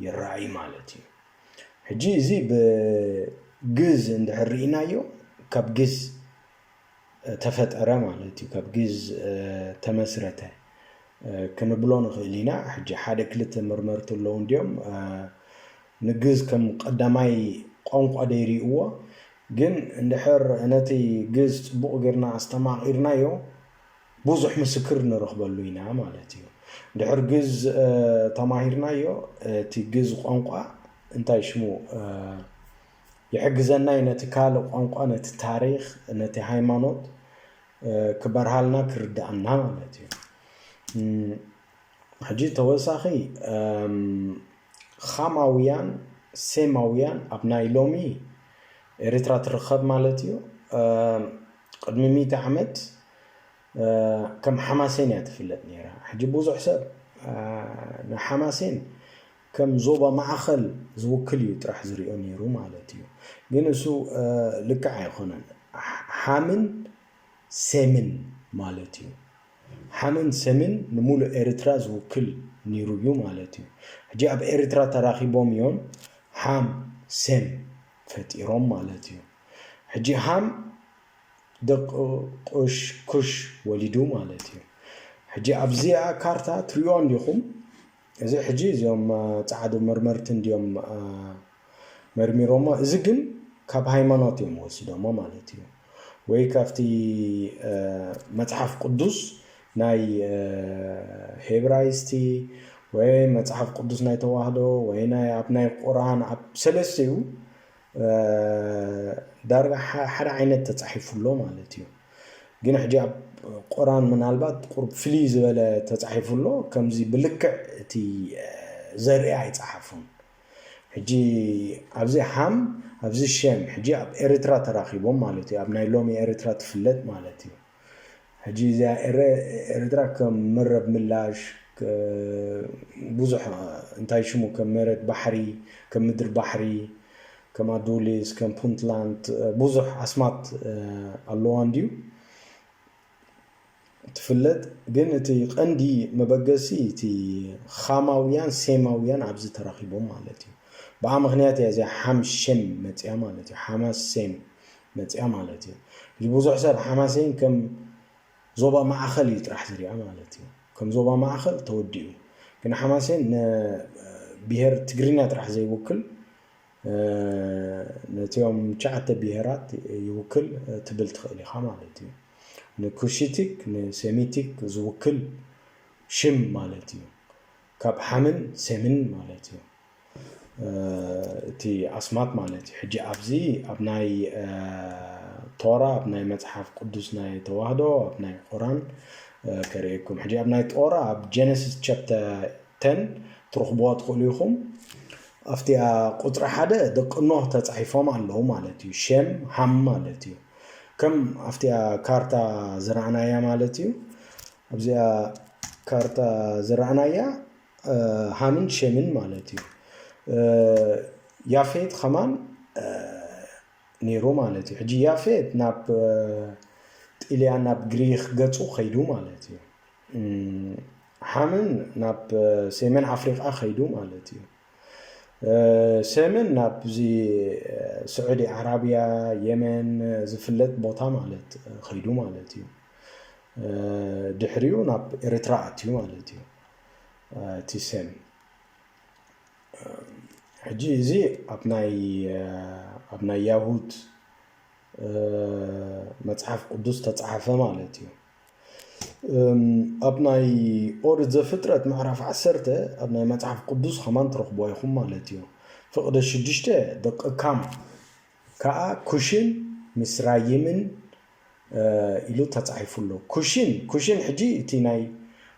ይረኣይ ማለት እዩ ሕጂ እዚ ብግዝ እንድሕር ርኢናዮ ካብ ግዝ ተፈጠረ ማለት እዩ፣ ካብ ግእዝ ተመስረተ ክንብሎ ንኽእል ኢና። ሕጂ ሓደ ክልተ መርመርቲ ኣለዉ እንድዮም ንግእዝ ከም ቀዳማይ ቋንቋ ደይሪኡዎ። ግን እንድሕር ነቲ ግእዝ ጽቡቕ ጌርና ኣስተማቒርናዮ ብዙሕ ምስክር ንረኽበሉ ኢና ማለት እዩ። እንድሕር ግእዝ ተማሂርናዮ እቲ ግእዝ ቋንቋ እንታይ ሽሙ ይሕግዘና እዩ ነቲ ካልእ ቋንቋ ነቲ ታሪኽ ነቲ ሃይማኖት ክበርሃልና ክርዳኣና ማለት እዩ ሕጂ ተወሳኺ ኻማውያን ሴማውያን ኣብ ናይ ሎሚ ኤርትራ ትርከብ ማለት እዩ ቅድሚ ሚእቲ ዓመት ከም ሓማሴን እያ ትፍለጥ ነይራ ሕጂ ብዙሕ ሰብ ንሓማሴን ከም ዞባ ማእኸል ዝውክል እዩ ጥራሕ ዝሪኦ ነይሩ ማለት እዩ ግን እሱ ልክዕ ኣይኾነን ሓምን ሴምን ማለት እዩ ሓምን ሴምን ንሙሉእ ኤርትራ ዝውክል ነይሩ እዩ ማለት እዩ ሕጂ ኣብ ኤርትራ ተራኺቦም እዮም ሓም ሴም ፈጢሮም ማለት እዩ ሕጂ ሃም ደቂ ቁሽ ኩሽ ወሊዱ ማለት እዩ ሕጂ ኣብዚኣ ካርታ ትሪእዋ እንዲኹም እዚ ሕጂ እዚኦም ጻዓዱ መርመርቲ እንድዮም መርሚሮሞ እዚ ግን ካብ ሃይማኖት እዮም ወሲዶሞ ማለት እዩ ወይ ካብቲ መጽሓፍ ቁዱስ ናይ ሄብራይስቲ ወይ መጽሓፍ ቁዱስ ናይ ተዋህዶ ወይ ናይ ኣብ ናይ ቁራን ኣብ ሰለስተኡ ዳርጋ ሓደ ዓይነት ተጻሒፉ ኣሎ ማለት እዩ ግን ሕጂ ኣብ ቁራን ምናልባት ቁርብ ፍልይ ዝበለ ተጻሒፉ ኣሎ ከምዚ ብልክዕ እቲ ዘርኢ ኣይጸሓፉን ሕጂ ኣብዚ ሃም ኣብዚ ሸም ሕጂ ኣብ ኤርትራ ተራኺቦም ማለት እዩ ኣብ ናይ ሎሚ ኤርትራ ትፍለጥ ማለት እዩ ሕጂ እዚኣ ኤረ ኤርትራ ከም መረብ ምላሽ ብዙሕ እንታይ ሽሙ ከም መሬት ባሕሪ ከም ምድሪ ባሕሪ ከም ኣዱሊስ ከም ፑንትላንድ ብዙሕ ኣስማት ኣለዋ እንድዩ ትፍለጥ ግን እቲ ቀንዲ መበገሲ እቲ ኻማውያን ሴማውያን ኣብዚ ተራኺቦም ማለት እዩ ብኣ ምክንያት እያ እዚኣ ሓም ሸም መፅያ ማለት እዩ ሓማስ ሴም መጺኣ ማለት እዩ። ሕጂ ብዙሕ ሰብ ሓማሴን ከም ዞባ ማእኸል እዩ ጥራሕ ዝሪኣ ማለት እዩ። ከም ዞባ ማእኸል ተወዲኡ ግን ሓማሴን ንብሄር ትግርኛ ጥራሕ ዘይውክል ነቲኦም ትሽዓተ ብሄራት ይውክል ትብል ትኽእል ኢኻ ማለት እዩ። ንኩሽቲክ ንሴሚቲክ ዝውክል ሽም ማለት እዩ። ካብ ሓምን ሴምን ማለት እዩ። እቲ ኣስማት ማለት እዩ ሕጂ ኣብዚ ኣብ ናይ ቶራ ኣብ ናይ መጽሓፍ ቅዱስ ናይ ተዋህዶ ኣብ ናይ ቁራን ከርእየኩም ሕጂ ኣብ ናይ ጦራ ኣብ ጀነሲስ ቻፕተ 10 ትረኽብዋ ትኽእሉ ኢኹም ኣብቲኣ ቁፅሪ ሓደ ደቂ ኖህ ተፃሒፎም ኣለዉ ማለት እዩ ሸም ሃም ማለት እዩ ከም ኣብቲኣ ካርታ ዝረኣናያ ማለት እዩ ኣብዚኣ ካርታ ዝረኣናያ ሃምን ሸምን ማለት እዩ ያፌት ከማን ነይሩ ማለት እዩ ሕጂ ያፌት ናብ ጢልያን ናብ ግሪክ ገፁ ከይዱ ማለት እዩ ሓምን ናብ ሰሜን ኣፍሪቃ ከይዱ ማለት እዩ ሰምን ናብዚ ስዑዲ ዓራብያ የመን ዝፍለጥ ቦታ ማለት ከይዱ ማለት እዩ ድሕሪኡ ናብ ኤርትራ ኣትዩ ማለት እዩ እቲ ሰም ሕጂ እዚ ኣብ ናይ ያሁድ መጽሓፍ ቅዱስ ተጻሓፈ ማለት እዩ ኣብ ናይ ኦሪት ዘፍጥረት ምዕራፍ ዓሰርተ ኣብ ናይ መጽሓፍ ቅዱስ ኸማን ትረኽቦ ኢኹም ማለት እዩ ፍቕደ ሽዱሽተ ደቂ ካም ከኣ ኩሽን ምስ ራይምን ኢሉ ተጻሒፉ ኣሎ። ኩሽን፣ ኩሽን ሕጂ እቲ ናይ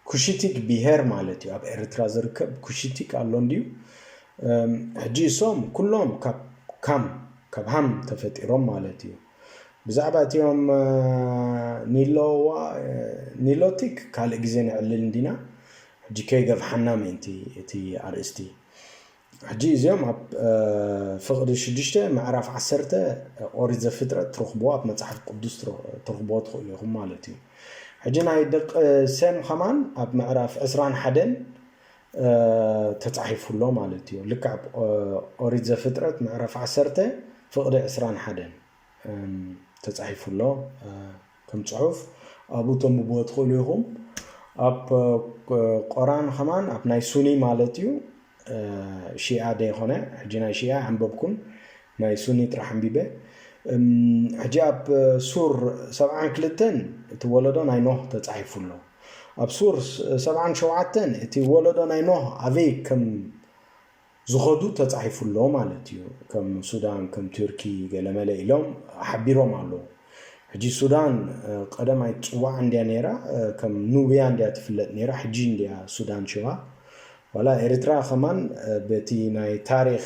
ኩሽቲክ ብሄር ማለት እዩ። ኣብ ኤርትራ ዝርከብ ኩሽቲክ ኣሎ እንድዩ። ሕጂ እሶም ኩሎም ካብ ካም፣ ካብ ሃም ተፈጢሮም ማለት እዩ። ብዛዕባ እቲኦም ኒሎዋ፣ ኒሎቲክ ካልእ ግዜ ነዕልል እንዲና። ሕጂ ከይገፍሓና ምእንቲ እቲ ኣርእስቲ። ሕጂ እዚኦም ኣብ ፍቕዲ ሽዱሽተ ምዕራፍ ዓሰርተ ኦሪት ዘፍጥረት ትረኽብዎ ኣብ መጽሓፍ ቅዱስ ትረኽብዎ ትኽእሉ ኢኹም ማለት እዩ ሕጂ ናይ ደቂ ሰም ከማን ኣብ ምዕራፍ ዕስራን ሓደን ተጻሒፉ ኣሎ ማለት እዩ ልክዕ ኦሪት ዘፍጥረት ምዕራፍ ዓሰርተ ፍቕዲ ዕስራን ሓደን ተጻሒፉ ኣሎ ከም ጽሑፍ ኣብኡ ተንብብዎ ትኽእሉ ኢኹም ኣብ ቆራን ከማን ኣብ ናይ ሱኒ ማለት እዩ ሺኣ ደይኮነ ሕጂ ናይ ሺኣ ኣንበብኩን ናይ ሱኒ ጥራሕ ኣንቢበ ሕጂ ኣብ ሱር ሰብዓን ክልተን እቲ ወለዶ ናይ ኖህ ተጻሒፉ ኣሎ ኣብ ሱር ሰብዓን ሸውዓተን እቲ ወለዶ ናይ ኖህ ኣበይ ከም ዝኸዱ ተጻሒፉ ኣሎ ማለት እዩ። ከም ሱዳን ከም ቱርኪ ገለመለ ኢሎም ሓቢሮም ኣለዉ። ሕጂ ሱዳን ቀደም ኣይትጽዋዕ እንድያ ነይራ ከም ኑብያ እንድያ ትፍለጥ ነይራ ሕጂ እንድያ ሱዳን ሽባ ዋላ ኤርትራ ከማን በቲ ናይ ታሪኽ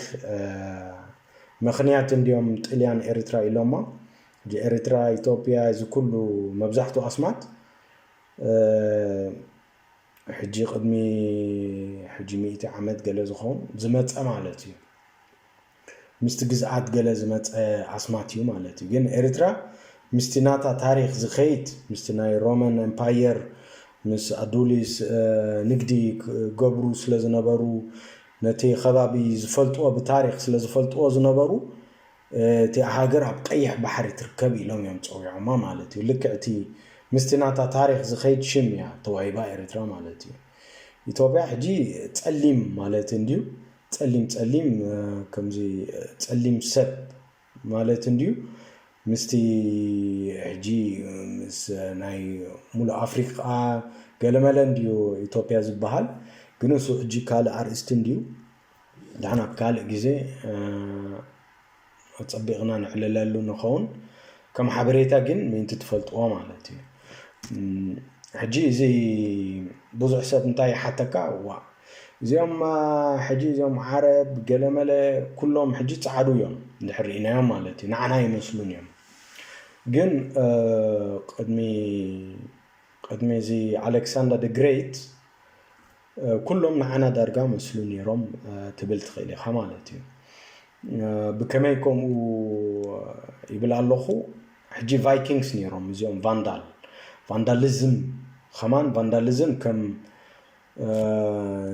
ምኽንያት እንድዮም ጥልያን ኤርትራ ኢሎማ ሕጂ ኤርትራ ኢትዮጵያ እዚ ኩሉ መብዛሕቱ ኣስማት ሕጂ ቅድሚ ሕጂ ሚእቲ ዓመት ገለ ዝኸውን ዝመፀ ማለት እዩ ምስቲ ግዝኣት ገለ ዝመፀ ኣስማት እዩ ማለት እዩ ግን ኤርትራ ምስቲ ናታ ታሪክ ዝኸይድ ምስቲ ናይ ሮመን ኤምፓየር ምስ ኣዱሊስ ንግዲ ክገብሩ ስለ ዝነበሩ ነቲ ከባቢ ዝፈልጥዎ ብታሪክ ስለ ዝፈልጥዎ ዝነበሩ እቲኣ ሃገር ኣብ ቀይሕ ባሕሪ ትርከብ ኢሎም እዮም ጸዊዖማ ማለት እዩ ልክዕ እቲ ምስቲ ናታ ታሪኽ ዝኸይድ ሽም እያ ተዋሂባ ኤርትራ ማለት እዩ ኢትዮጵያ ሕጂ ጸሊም ማለት እንድዩ ጸሊም ጸሊም ከምዚ ጸሊም ሰብ ማለት እንድዩ ምስቲ ሕጂ ምስ ናይ ሙሉእ ኣፍሪቃ ገለመለ እንድዩ ኢትዮጵያ ዝበሃል ግን እሱ ሕጂ ካልእ ኣርእስቲ እንድዩ ደሓን ኣብ ካልእ ግዜ ኣጸቢቕና ነዕልለሉ ንኸውን ከም ሓበሬታ ግን ምእንቲ ትፈልጥዎ ማለት እዩ ሕጂ እዚ ብዙሕ ሰብ እንታይ ይሓተካ ዋ እዚኦም ሕጂ እዚኦም ዓረብ ገለመለ ኩሎም ሕጂ ጻዕዱ እዮም እንድሕር ርኢናዮም ማለት እዩ ንዓና ይመስሉን እዮም ግን ቅድሚ ቅድሚ እዚ ኣሌክሳንደር ደ ግሬት ኩሎም ንዓና ዳርጋ መስሉ ኔሮም ትብል ትኽእል ኢኻ ማለት እዩ። ብከመይ ከምኡ ይብል ኣለኹ ሕጂ ቫይኪንግስ ነይሮም እዚኦም ቫንዳል ቫንዳሊዝም ከማን ቫንዳሊዝም ከም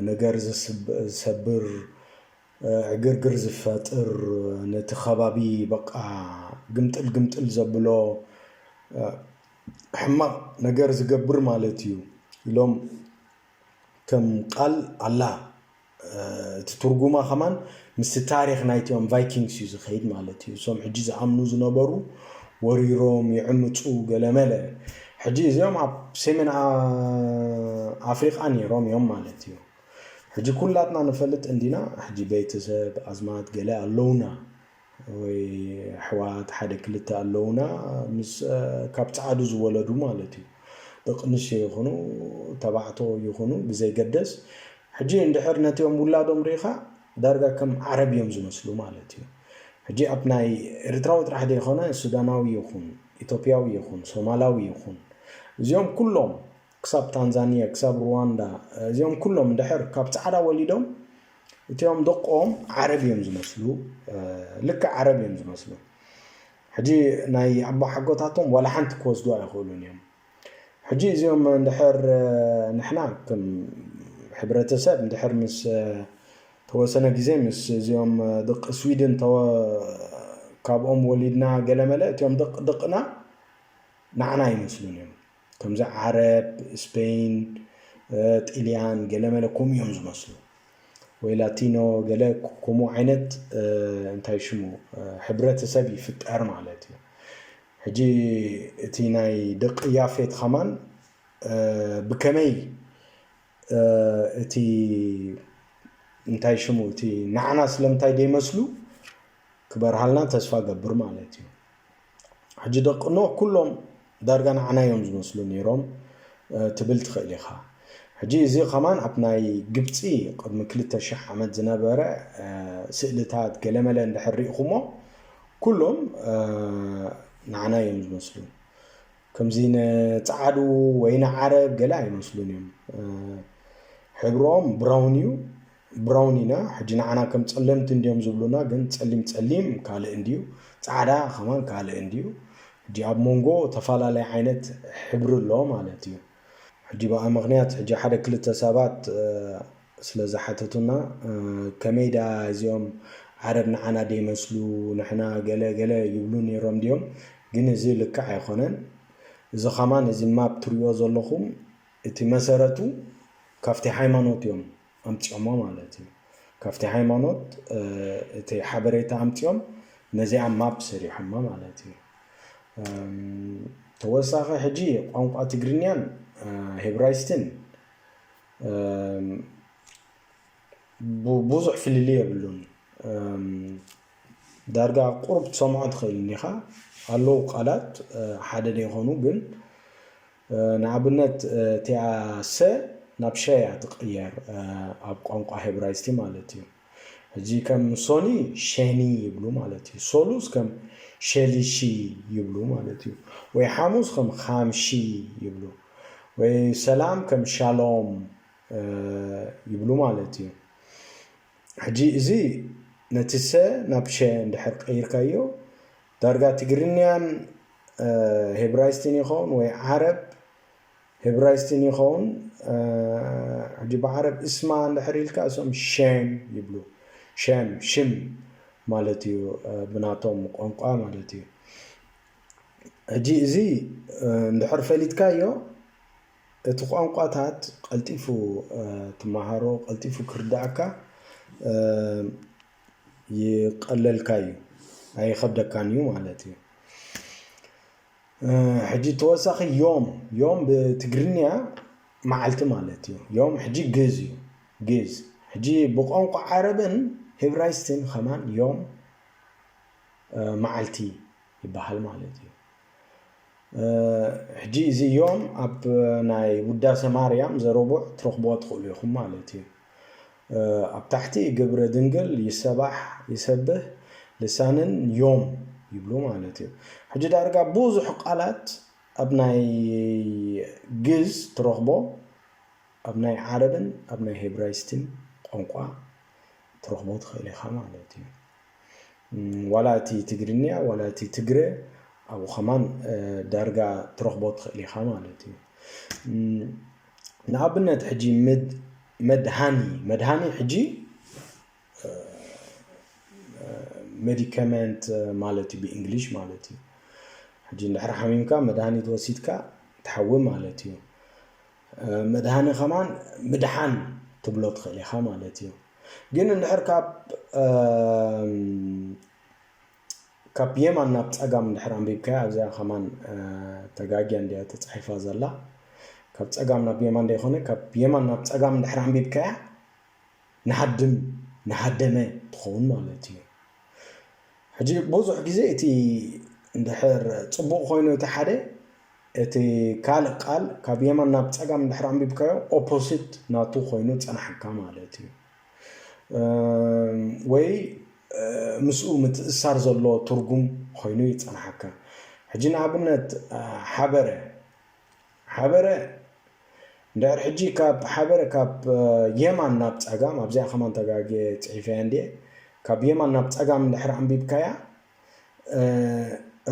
ነገር ዝሰብር ዕግርግር ዝፈጥር ነቲ ከባቢ በቃ ግምጥል ግምጥል ዘብሎ ሕማቕ ነገር ዝገብር ማለት እዩ ኢሎም ከም ቃል ኣላህ እቲ ትርጉማ ከማን ምስቲ ታሪክ ናይቶም ቫይኪንግስ እዩ ዝኸይድ ማለት እዩ እሶም ሕጂ ዝኣምኑ ዝነበሩ ወሪሮም ይዕምፁ ገለመለ ሕጂ እዚኦም ኣብ ሰሜን ኣፍሪቃ ነይሮም እዮም ማለት እዩ ሕጂ ኩላትና ንፈልጥ እንዲና ሕጂ ቤተሰብ ኣዝማት ገለ ኣለውና ወይ ኣሕዋት ሓደ ክልተ ኣለውና ምስ ካብ ጻዓዱ ዝወለዱ ማለት እዩ ደቅንሽዮ ይኹኑ ተባዕቶ ይኹኑ ብዘይገደስ ሕጂ እንድሕር ነቲኦም ውላዶም ርኢኻ ዳርጋ ከም ዓረብ እዮም ዝመስሉ ማለት እዩ ሕጂ ኣብ ናይ ኤርትራዊ ጥራሕ ዘይኮነ ሱዳናዊ ይኹን ኢትዮጵያዊ ይኹን ሶማላዊ ይኹን እዚኦም ኩሎም ክሳብ ታንዛንየ ክሳብ ሩዋንዳ እዚኦም ኩሎም ድሕር ካብ ጻዕዳ ወሊዶም እቲኦም ደቆም ዓረብ እዮም ዝመስሉ ልክዕ ዓረብ እዮም ዝመስሉ ሕጂ ናይ ኣቦ ሓጎታቶም ዋላ ሓንቲ ክወስዱ ኣይኽእሉን እዮም ሕጂ እዚኦም እንድሕር ንሕና ከም ሕብረተሰብ እንድሕር ምስ ተወሰነ ግዜ ምስ እዚኦም ደቂ ስዊድን ካብኦም ወሊድና ገለመለ እቲኦም ደቂ ደቅና ንዓና ይመስሉን እዮም ከምዚ ዓረብ፣ ስፐይን፣ ጥልያን ገለመለ ከምኡ እዮም ዝመስሉ ወይ ላቲኖ ገለ ከምኡ ዓይነት እንታይ ሽሙ ሕብረተሰብ ይፍጠር ማለት እዩ ሕጂ እቲ ናይ ደቂ ያፌት ኸማን ብከመይ እቲ እንታይ ሽሙ እቲ ናዕና ስለምንታይ ደይመስሉ ክበርሃልና ተስፋ ገብር ማለት እዩ ሕጂ ደቂ ኖህ ኩሎም ዳርጋ ንዓና እዮም ዝመስሉ ነይሮም ትብል ትኽእል ኢኻ። ሕጂ እዚ ከማን ኣብ ናይ ግብጺ ቅድሚ ክልተ ሽሕ ዓመት ዝነበረ ስእልታት ገለመለ እንድሕር ርኢኹሞ ኩሎም ንዓና እዮም ዝመስሉ ከምዚ ንጸዓዱ ወይ ንዓረብ ገለ ኣይመስሉን እዮም ሕብሮም ብራውን እዩ ብራውን ኢና ሕጂ ንዓና ከም ጸለምቲ እንድዮም ዝብሉና ግን ጸሊም ጸሊም ካልእ እንድዩ ጻዕዳ ከማን ካልእ እንድዩ ሕጂ ኣብ ሞንጎ ተፋላለይ ዓይነት ሕብሪ ኣሎ ማለት እዩ ሕጂ ብኣ ምክንያት ሕጂ ሓደ ክልተ ሰባት ስለ ዝሓተቱና ከመይ ድኣ እዚኦም ዓረብ ንዓና ደይመስሉ ንሕና ገለ ገለ ይብሉ ነይሮም ድዮም ግን እዚ ልክዕ ኣይኮነን እዚ ከማን እዚ ማፕ ትሪኦ ዘለኹም እቲ መሰረቱ ካብቲ ሃይማኖት እዮም ኣምጺኦሞ ማለት እዩ ካብቲ ሃይማኖት እቲ ሓበሬታ ኣምጺኦም ነዚኣ ማፕ ሰሪሖማ ማለት እዩ ተወሳኺ ሕጂ ቋንቋ ትግርኛን ሄብራይስትን ብዙሕ ፍልል የብሉን ዳርጋ ቁሩብ ትሰምዖ ትኽእል እንዲኻ ኣለዉ ቃላት ሓደ ዘይኮኑ ግን ንኣብነት እቲኣ ሰ ናብ ሸ እያ ትቕየር ኣብ ቋንቋ ሄብራይስቲ ማለት እዩ። ሕጂ ከም ሶኒ ሸኒ ይብሉ ማለት እዩ። ሶሉስ ከም ሸሊሺ ይብሉ ማለት እዩ። ወይ ሓሙስ ከም ኻምሺ ይብሉ ወይ ሰላም ከም ሻሎም ይብሉ ማለት እዩ። ሕጂ እዚ ነቲ ሰ ናብ ሸ እንድሕር ቀይርካዮ ዳርጋ ትግርንያን ሄብራይስትን ይኸውን ወይ ዓረብ ሄብራይስትን ይኸውን ሕጂ ብዓረብ እስማ እንድሕር ኢልካ እሶም ሸም ይብሉ ሸም ሽም ማለት እዩ ብናቶም ቋንቋ ማለት እዩ ሕጂ እዚ እንድሕር ፈሊጥካዮ እቲ ቋንቋታት ቀልጢፉ ትመሃሮ ቀልጢፉ ክርዳእካ ይቀለልካ እዩ ኣይኸብደካን እዩ ማለት እዩ ሕጂ ተወሳኺ ዮም ዮም ብትግርኛ መዓልቲ ማለት እዩ ዮም ሕጂ ግዝ እዩ ግዝ ሕጂ ብቋንቋ ዓረብን ሂብራይስትን ከማን ዮም መዓልቲ ይበሃል ማለት እዩ ሕጂ እዚ እዮም ኣብ ናይ ውዳሰ ማርያም ዘረቡዕ ትረኽብዎ ትኽእሉ ኢኹም ማለት እዩ ኣብ ታሕቲ ግብረ ድንግል ይሰባሕ ይሰብህ ልሳንን ዮም ይብሉ ማለት እዩ ሕጂ ዳርጋ ብዙሕ ቃላት ኣብ ናይ ግዝ ትረኽቦ ኣብ ናይ ዓረብን ኣብ ናይ ሄብራይስትን ቋንቋ ትረኽቦ ትኽእል ኢኻ ማለት እዩ ዋላ እቲ ትግርንያ ዋላ እቲ ትግረ ኣብኡ ከማን ዳርጋ ትረኽቦ ትኽእል ኢኻ ማለት እዩ። ንኣብነት ሕጂ መድሃኒ መድሃኒ ሕጂ ሜዲከመንት ማለት እዩ ብእንግሊሽ ማለት እዩ ሕጂ እንድሕር ሓሚምካ መድሃኒት ወሲድካ ትሓዊ ማለት እዩ መድሃኒ ከማን ምድሓን ትብሎ ትኽእል ኢኻ ማለት እዩ ግን እንድሕር ካብ የማን ናብ ጸጋም እንድሕር ኣንቢብካያ ኣብዚኣ ከማን ተጋጊያ እንዲያ ተጻሒፋ ዘላ ካብ ጸጋም ናብ የማን ደይኮነ ካብ የማን ናብ ጸጋም እንድሕር ኣንቢብካያ ንሃድም ንሃደመ ትኸውን ማለት እዩ ሕጂ ብዙሕ ግዜ እቲ እንድሕር ጽቡቕ ኮይኑ እቲ ሓደ እቲ ካልእ ቃል ካብ የማን ናብ ጸጋም እንድሕር ኣንቢብካዮ ኦፖሲት ናቱ ኮይኑ ጸናሕካ ማለት እዩ። ወይ ምስኡ ምትእስሳር ዘለዎ ትርጉም ኮይኑ ይጸናሓካ። ሕጂ ንኣብነት ሓበረ ሓበረ እንድሕር ሕጂ ካብ ሓበረ ካብ የማን ናብ ጸጋም ኣብዚኣ ከማን ተጋግየ ጽሒፈያ እንድየ ካብ የማን ናብ ጸጋም እንድሕር ኣንቢብካያ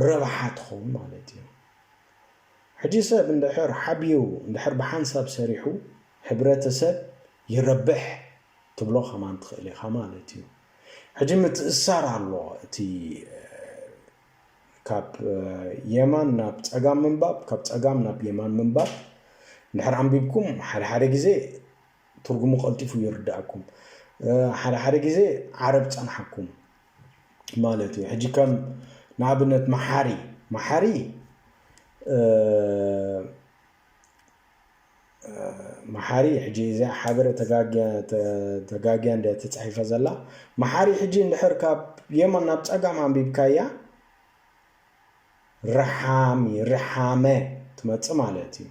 ረብሓ ትኸውን ማለት እዩ። ሕጂ ሰብ እንድሕር ሓቢሩ እንድሕር ብሓንሳብ ሰሪሑ ሕብረተሰብ ይረብሕ ትብሎ ከማን ትኽእል ኢኻ ማለት እዩ። ሕጂ ምትእስሳር ኣሎ እቲ ካብ የማን ናብ ጸጋም ምንባብ ካብ ጸጋም ናብ የማን ምንባብ እንድሕር ኣንቢብኩም ሓደ ሓደ ግዜ ትርጉሙ ቀልጢፉ ይርድኣኩም ሓደ ሓደ ግዜ ዓረብ ጸንሓኩም ማለት እዩ ሕጂ ከም ንኣብነት መሓሪ መሓሪ መሓሪ ሕጂ እዚኣ ሓበረ ተጋግያ እንደ ተፃሒፈ ዘላ መሓሪ ሕጂ እንድሕር ካብ የመን ናብ ፀጋም ኣንቢብካያ ረሓሚ ረሓመ ትመፅእ ማለት እዩ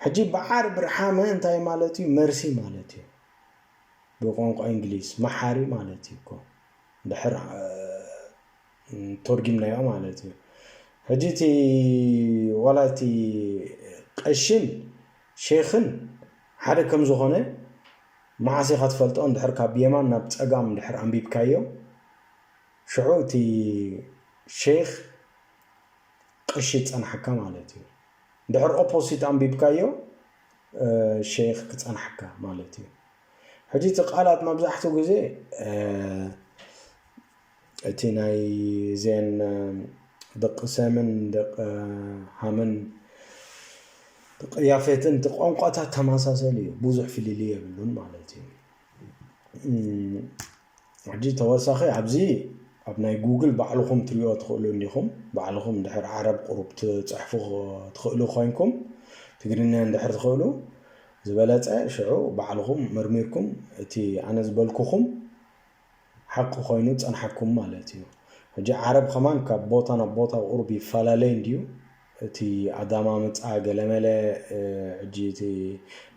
ሕጂ ብዓርብ ረሓመ እንታይ ማለት እዩ መርሲ ማለት እዩ ብቋንቋ ኢንግሊዝ መሓሪ ማለት እዩ እኮ ድሕር ቶርጊምናዮ ማለት እዩ ሕጂ እቲ ዋላ እቲ ቀሽን ሼኽን ሓደ ከም ዝኾነ መዓስ ኢኻ ትፈልጦ እንድሕር ካብ የማን ናብ ጸጋም እንድሕር ኣንቢብካዮ ሽዑ እቲ ሼኽ ቀሺ ጸንሓካ ማለት እዩ እንድሕር ኦፖሲት ኣንቢብካዮ ሸይኽ ክጸናሕካ ማለት እዩ። ሕጂ እቲ ቃላት መብዛሕትኡ ግዜ እቲ ናይ እዚኤን ደቂ ሰምን ደቂ ሃምን ደቂ ያፌትን እቲ ቋንቋታት ተመሳሰሊ እዩ፣ ብዙሕ ፍልልይ የብሉን ማለት እዩ። ሕጂ ተወሳኺ ኣብዚ ኣብ ናይ ጉግል ባዕልኹም ትሪኦ ትኽእሉ እንዲኹም ባዕልኹም ድሕር ዓረብ ቁሩብ ትጽሕፉ ትኽእሉ ኮይንኩም ትግርኛ እንድሕር ትኽእሉ ዝበለጸ ሽዑ ባዕልኹም መርሚርኩም እቲ ኣነ ዝበልኩኹም ሓቂ ኮይኑ ጸንሓኩም ማለት እዩ ሕጂ ዓረብ ከማን ካብ ቦታ ናብ ቦታ ቁሩብ ይፈላለይ እንድዩ እቲ ኣዳማምጻ ገለመለ ሕጂ እቲ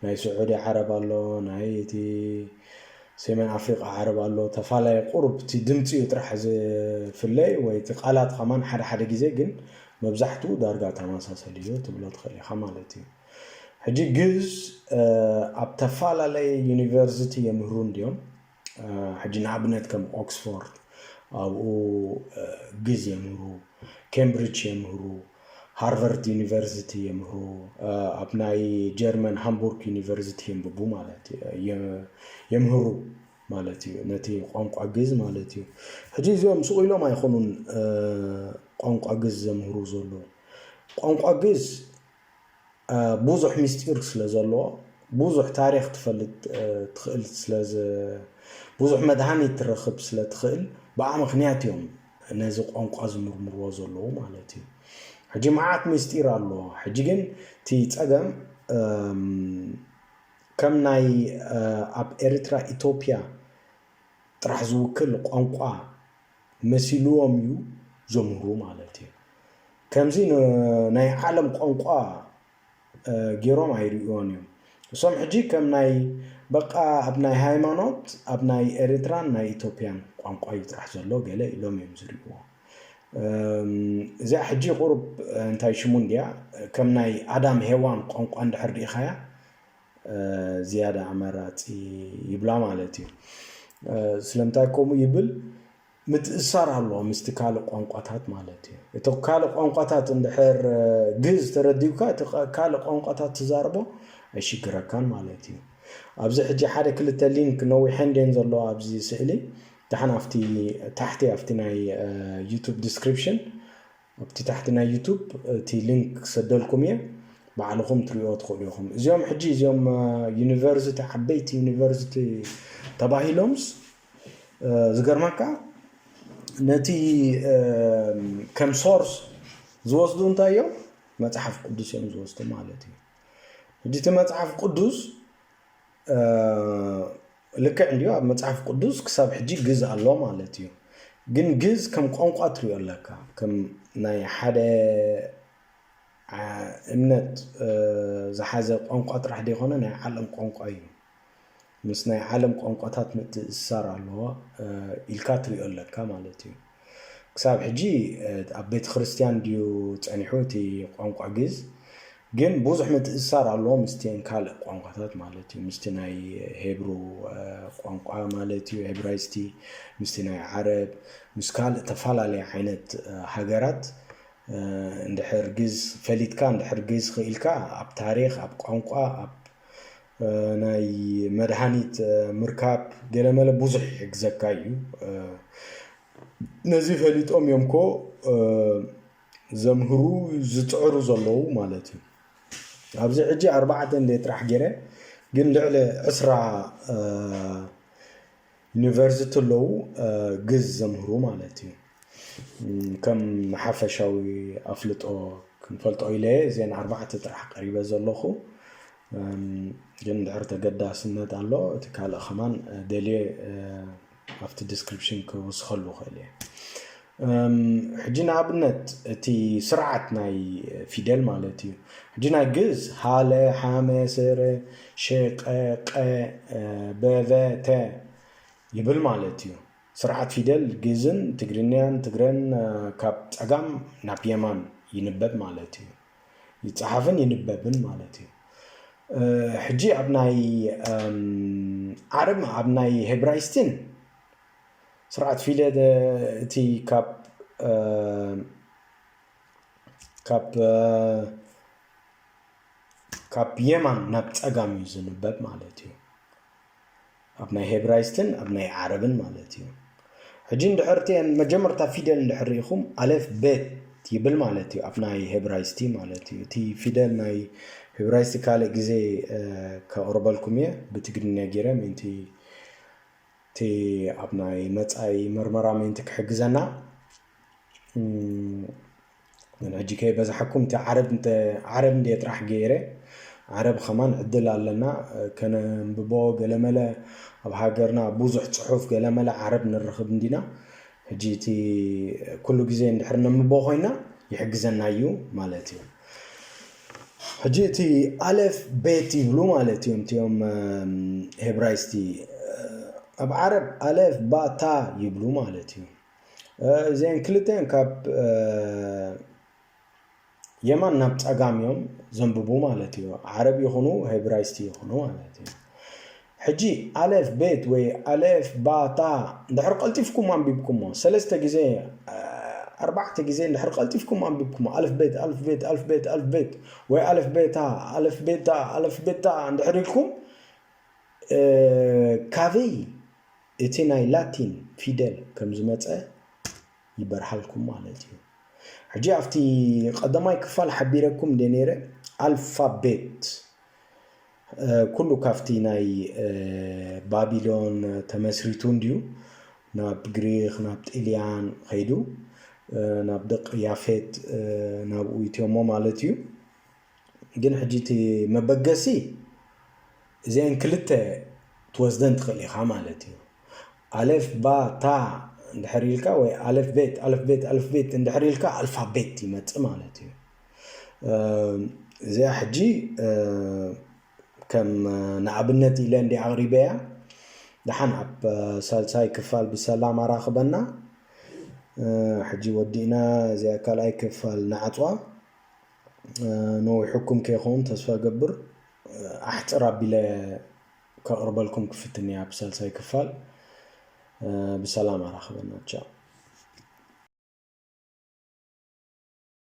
ናይ ስዑዲ ዓረብ ኣሎ ናይ እቲ ሴሜን ኣፍሪቃ ዓረብ ኣሎ ተፋላይ ቁሩብ እቲ ድምጺ እዩ ጥራሕ ዝፍለ ወይ እቲ ቃላት ከማን ሓደ ሓደ ግዜ ግን መብዛሕትኡ ዳርጋ ተመሳሰሊ እዩ ትብሎ ትኽእል ኢኻ ማለት እዩ ሕጂ ግዝ ኣብ ተፋላለየ ዩኒቨርሲቲ የምህሩ እንድዮም ሕጂ ንኣብነት ከም ኦክስፎርድ ኣብኡ ግዝ የምህሩ፣ ኬምብሪች የምህሩ፣ ሃርቨርት ዩኒቨርሲቲ የምህሩ፣ ኣብ ናይ ጀርመን ሃምቡርግ ዩኒቨርሲቲ የንብቡ ማለት የምህሩ ማለት እዩ ነቲ ቋንቋ ግዝ ማለት እዩ። ሕጂ እዚኦም ስቕ ኢሎም ኣይኮኑን ቋንቋ ግዝ ዘምህሩ ዘለዉ ቋንቋ ግዝ ቡዙሕ ምስጢር ስለ ዘለዎ ቡዙሕ ታሪኽ ትፈልጥ ትኽእል ስለ ቡዙሕ መድሃኒት ትረኽብ ስለ ትኽእል ብኣ ምኽንያት እዮም ነዚ ቋንቋ ዝምርምርዎ ዘለዉ ማለት እዩ ሕጂ መዓት ምስጢር ኣሎ ሕጂ ግን እቲ ጸገም ከም ናይ ኣብ ኤርትራ ኢትዮጵያ ጥራሕ ዝውክል ቋንቋ መሲልዎም እዩ ዘምህሩ ማለት እዩ። ከምዚ ናይ ዓለም ቋንቋ ገይሮም ኣይርእዮን እዮም። እሶም ሕጂ ከም ናይ በቃ ኣብ ናይ ሃይማኖት ኣብ ናይ ኤርትራን ናይ ኢትዮጵያን ቋንቋ እዩ ጥራሕ ዘሎ ገለ ኢሎም እዮም ዝርእዎ። እዚኣ ሕጂ ቁሩብ እንታይ ሽሙ እንድያ ከም ናይ ኣዳም ሄዋን ቋንቋ እንድሕር ርኢኻያ ዝያዳ ኣመራፂ ይብላ ማለት እዩ ስለምንታይ ከምኡ ይብል ምትእሳር ኣለዎ ምስቲ ካልእ ቋንቋታት ማለት እዩ እቲ ካልእ ቋንቋታት እንድሕር ግዝ ተረዲብካ እቲ ካልእ ቋንቋታት ትዛርቦ ኣይሽግረካን ማለት እዩ ኣብዚ ሕጂ ሓደ ክልተ ሊንክ ነዊሐን ድን ዘለዎ ኣብዚ ስእሊ ዳሓን ኣብቲ ታሕቲ ኣብቲ ናይ ዩቱብ ዲስክሪፕሽን ኣብቲ ታሕቲ ናይ ዩቱብ እቲ ሊንክ ክሰደልኩም እየ ባዕልኹም ትሪኦ ትኽእሉ ኢኹም እዚኦም ሕጂ እዚኦም ዩኒቨርሲቲ ዓበይቲ ዩኒቨርሲቲ ተባሂሎምስ ዝገርመካ ነቲ ከም ሶርስ ዝወስዱ እንታይ እዮም መፅሓፍ ቅዱስ እዮም ዝወስዱ ማለት እዩ ሕጂ እቲ መፅሓፍ ቅዱስ ልክዕ እንድዩ ኣብ መጽሓፍ ቅዱስ ክሳብ ሕጂ ግዝ ኣሎ ማለት እዩ ግን ግዝ ከም ቋንቋ ትሪኦ ኣለካ ከም ናይ ሓደ እምነት ዝሓዘ ቋንቋ ጥራሕ ዘይኮነ ናይ ዓለም ቋንቋ እዩ ምስ ናይ ዓለም ቋንቋታት ምትእስሳር ኣለዎ ኢልካ ትሪኦ ኣለካ ማለት እዩ ክሳብ ሕጂ ኣብ ቤተክርስትያን ድዩ ጸኒሑ እቲ ቋንቋ ግእዝ ግን ብዙሕ ምትእስሳር ኣለዎ ምስቲን ካልእ ቋንቋታት ማለት እዩ ምስቲ ናይ ሄብሩ ቋንቋ ማለት እዩ ሄብራይስቲ ምስቲ ናይ ዓረብ ምስ ካልእ ተፈላለየ ዓይነት ሃገራት እንድሕር ግዝ ፈሊጥካ እንድሕር ግዝ ክኢልካ ኣብ ታሪክ ኣብ ቋንቋ ኣብ ናይ መድሃኒት ምርካብ ገለመለ ብዙሕ ይሕግዘካ እዩ ነዚ ፈሊጦም እዮም ኮ ዘምህሩ ዝፅዕሩ ዘለዉ ማለት እዩ ኣብዚ ሕጂ ኣርባዕተ እንደ ጥራሕ ገይረ ግን ልዕሊ ዕስራ ዩኒቨርሲቲ ኣለዉ ግእዝ ዘምህሩ ማለት እዩ ከም ሓፈሻዊ ኣፍልጦ ክንፈልጦ ኢለ እዘን ኣርባዕተ ጥራሕ ቀሪበ ዘለኹ ግን ድሕር ተገዳስነት ኣሎ እቲ ካልእ ከማን ደልየ ኣብቲ ዲስክሪፕሽን ክውስኸሉ ክእል እየ ሕጂ ንኣብነት እቲ ስርዓት ናይ ፊደል ማለት እዩ ሕጂ ናይ ግእዝ ሃለ ሓመ ሰረ ሸቀ ቀ በቨ ተ ይብል ማለት እዩ ስርዓት ፊደል ግእዝን ትግርንያን ትግረን ካብ ጸጋም ናብ የማን ይንበብ ማለት እዩ ይጸሓፍን ይንበብን ማለት እዩ ሕጂ ኣብ ናይ ዓረብ ኣብ ናይ ሄብራይስትን ስርዓት ፊለ ደ እቲ ካብ ካብ ካብ የማን ናብ ጸጋም እዩ ዝንበብ ማለት እዩ ኣብ ናይ ሄብራይስትን ኣብ ናይ ዓረብን ማለት እዩ ሕጂ እንድሕር እቲ መጀመርታ ፊደል እንድሕር ርኢኹም ኣለፍ ቤት ይብል ማለት እዩ ኣብ ናይ ሄብራይስቲ ማለት እዩ እቲ ፊደል ናይ ሄብራይስቲ ካልእ ግዜ ከቕርበልኩም እየ ብትግርኛ ጌረ ምእንቲ እቲ ኣብ ናይ መጻኢ መርመራ ምእንቲ ክሕግዘና ግን ሕጂ ከይበዛሓኩም እቲ ዓረብ እንተ ዓረብ እንድየ ጥራሕ ገይረ ዓረብ ከማን ዕድል ኣለና ከነንብቦ ገለመለ ኣብ ሃገርና ብዙሕ ጽሑፍ ገለመለ ዓረብ ንርኽብ እንዲና ሕጂ እቲ ኩሉ ግዜ እንድሕር ነንብቦ ኮይና ይሕግዘና እዩ ማለት እዩ ሕጂ እቲ ኣለፍ ቤት ይብሉ ማለት እዮም እቲኦም ሄብራይስቲ ኣብ ዓረብ ኣለፍ ባእ ታእ ይብሉ ማለት እዩ እዚኤን ክልተኤን ካብ የማን ናብ ፀጋም እዮም ዘንብቡ ማለት እዩ ዓረብ ይኹኑ ሄብራይስቲ ይኹኑ ማለት እዩ ሕጂ ኣሌፍ ቤት ወይ ኣሌፍ ባ ታ እንድሕር ቀልጢፍኩም ኣንቢብኩሞ ሰለስተ ግዜ ኣርባዕተ ግዜ እንድሕር ቀልጢፍኩም ኣንቢብኩሞ ኣልፍ ቤት ኣልፍ ቤት ኣልፍ ቤት ኣልፍ ቤት ወይ ኣሌፍ ቤታ ኣሌፍ ቤታ ኣሌፍ ቤታ እንድሕር ኢልኩም ካበይ እቲ ናይ ላቲን ፊደል ከም ዝመጸ ይበርሃልኩም ማለት እዩ። ሕጂ ኣብቲ ቀዳማይ ክፋል ሓቢረኩም እንደ ነይረ ኣልፋቤት ኩሉ ካብቲ ናይ ባቢሎን ተመስሪቱ እንድዩ ናብ ግሪኽ ናብ ጥልያን ኸይዱ ናብ ደቂ ያፌት ናብኡ ይትዮሞ ማለት እዩ ግን ሕጂ እቲ መበገሲ እዚአን ክልተ ትወስደን ትኽእል ኢኻ ማለት እዩ ኣሌፍ ባ ታ እንድሕር ኢልካ ወይ ኣሌፍ ቤት ኣሌፍ ቤት ኣሌፍ ቤት እንድሕር ኢልካ ኣልፋቤት ይመፅእ ማለት እዩ እዚኣ ሕጂ ከም ንኣብነት ኢለ እንዲ ኣቕሪበያ ደሓን ኣብ ሳልሳይ ክፋል ብሰላም ኣራኽበና ሕጂ ወዲእና እዚኣ ካልኣይ ክፋል ንዓፅዋ ነዊሑኩም ከይኸውን ተስፋ ገብር ኣሕፅር ኣቢለ ከቕርበልኩም ክፍትን እያ ኣብ ሳልሳይ ክፋል ብሰላም ኣራኽበና ቻው